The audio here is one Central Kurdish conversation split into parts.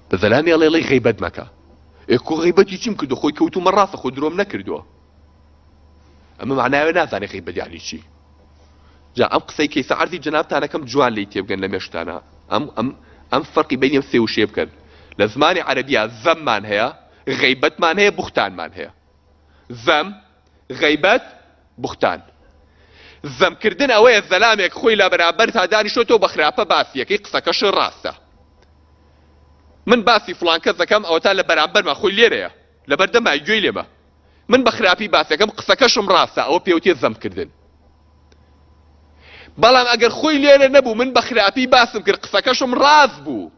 بە زەلامی ئەڵێ ڵی غیبەت مەکە ئێ کو غیبەتی چیم کردو خۆی کەوتومە ڕاستە خۆ درۆم نەکردووە ئەمە معناوێ نازانێ غیبەت یعنی چی جا ئەم قسەی کەیسە عەرزی جنابتانەکەم جوان لی تێبگەن لە مێشکتانە ئەم ئەم ئەم فەرقی بینی ئەم سێ وشەیە بکەن لە زمانی عەرەبیا زەممان هەیە غیبەتمان هەیە بوختانمان هەیە زەم، غەیبەت، بوختان. زەم کردن ئەوەیە زەلامێک خۆی لە بەرامبەرتا دانیشتۆتەوە بە خراپە باسی یەکەی قسەکەش ڕاستە. من باسی فڵان کەس دەکەم ئەوەتا لە بەرامبەرمە خۆی لێرەیە لە بەردەمای گوێی لێمە. من بە خراپی باسەکەم قسەکەشم ڕاستە ئەوە پێوتێ زەم کردن. بەڵام ئەگەر خۆی لێرە نەبوو من بە خراپی باسم کرد قسەکەشم ڕاست بوو.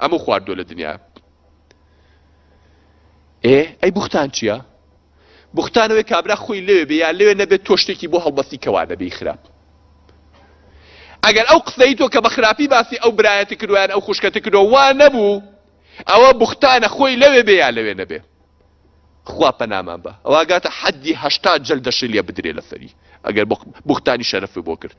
ئەمو خواردوە لە دنیا ئێ ئەی بوختان چییە؟ بوختانەوەی کابرا خۆی لەوێ بێ یا لەوێ نەبێت تۆ شتێکی بۆ هەڵبەستی کەوا دەبی خراپ ئەگەر ئەو قسەی تۆ کە بە خراپی باسی ئەو برایەتی کردویان ئەو خوشکەتی کردو وا نەبوو ئەوە بوختانە خۆی لەوێ بێ یا لەوێ نەبێ خوا پەنامان بە ئەوگاتە حەدی هەشتا جل دەشی لێ بدرێ لەسەری ئەگەر بوختانی شەرەفی بۆ کرد